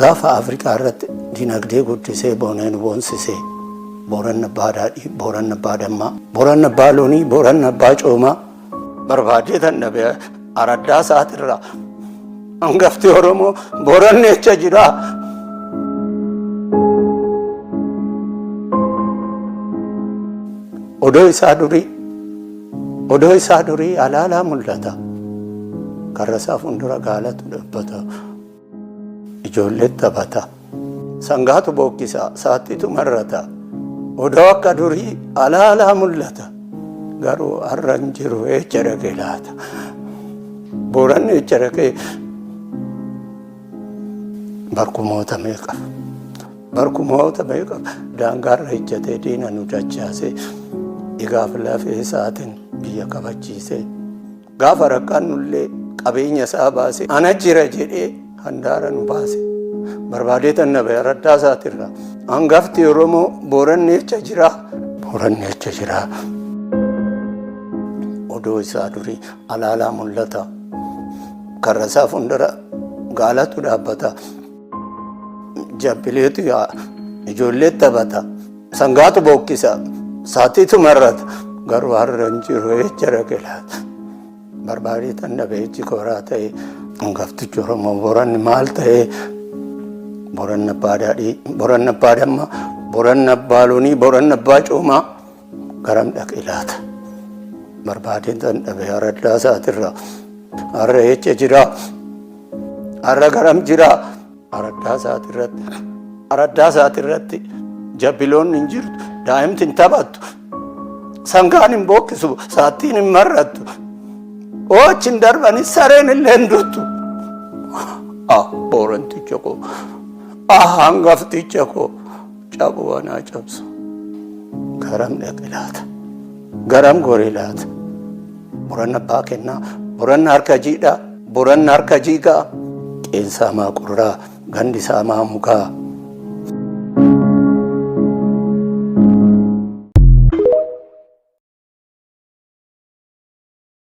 Gaafa Afrikaa irratti dinagdee guddisee booneen boonsise Booranni abbaa daadhii, Booranni abbaa dammaa, Booranni abbaa loonii, Booranni abbaa coomaa. Barbaadee tan dhabe araddaa isaatirraa hangafti Oromoo Booranni echa jiraa? Odoo isaa durii Odoo isaa durii alaalaa mul'ata. Karrasaa fuuldura gaalatu dhabbata. Ijoolleen taphata. Sangaatu bookkisa, saattitu marrata. Odoo akka durii alaalaa mul'ata. Garuu har'a hin jiru eecha dhaqe laata? Booranni eecha dhaqee barkumoota meeqa? Barkumoota meeqa daangaarra ejjatee diina nu dachaase dhigaaf lafee isaatiin biyya kabachiise gaafa rakkannullee qabeenya isaa baase ana jira jedhee handaara nu baase barbaadee tannabe araddaa isaatirra hangafti oromoo booranni jecha jira booranni jecha jira odoo isaa durii alaalaa mul'ata karra isaa fuuldura gaalatu dhaabbata. Jabbileetu yaa'a, ijoolleetu taphata, sangaatu bookkisa, saatiitu marrata, garuu har'a hin jiru eecha dhaqe laata? Barbaadee tan dhabe eechi kooraa ta'e, hangaftichi Oromoo Booranni maal ta'e? Booranni abbaa daadhii, Booranni abbaa dammaa, Booranni abbaa loonii, Booranni abbaa coomaa. Garam dhaqe laata? Barbaadeen tan dhabe araddaa isaatirra. Har'a eessa jira? Har'a garam jira? Araddaa isaatirratti. Araddaa isaatirratti jabbiloonni hin jirtu. Daa'imti hin taphattu. Sangaan hin bookkisu. Saattiin hin marrattu. Oochi hin darbani sareen illee hin duttu. Ah booranticha koo. Ah hangafticha koo. Cabo anaa cabsu garam dhaqe laata? Garam gore laata? Boranna abbaa kennaa, boranna harka jiidhaa, boranna harka jiigaa, qeensaa maa qurraa, gandi isaa maa mugaa.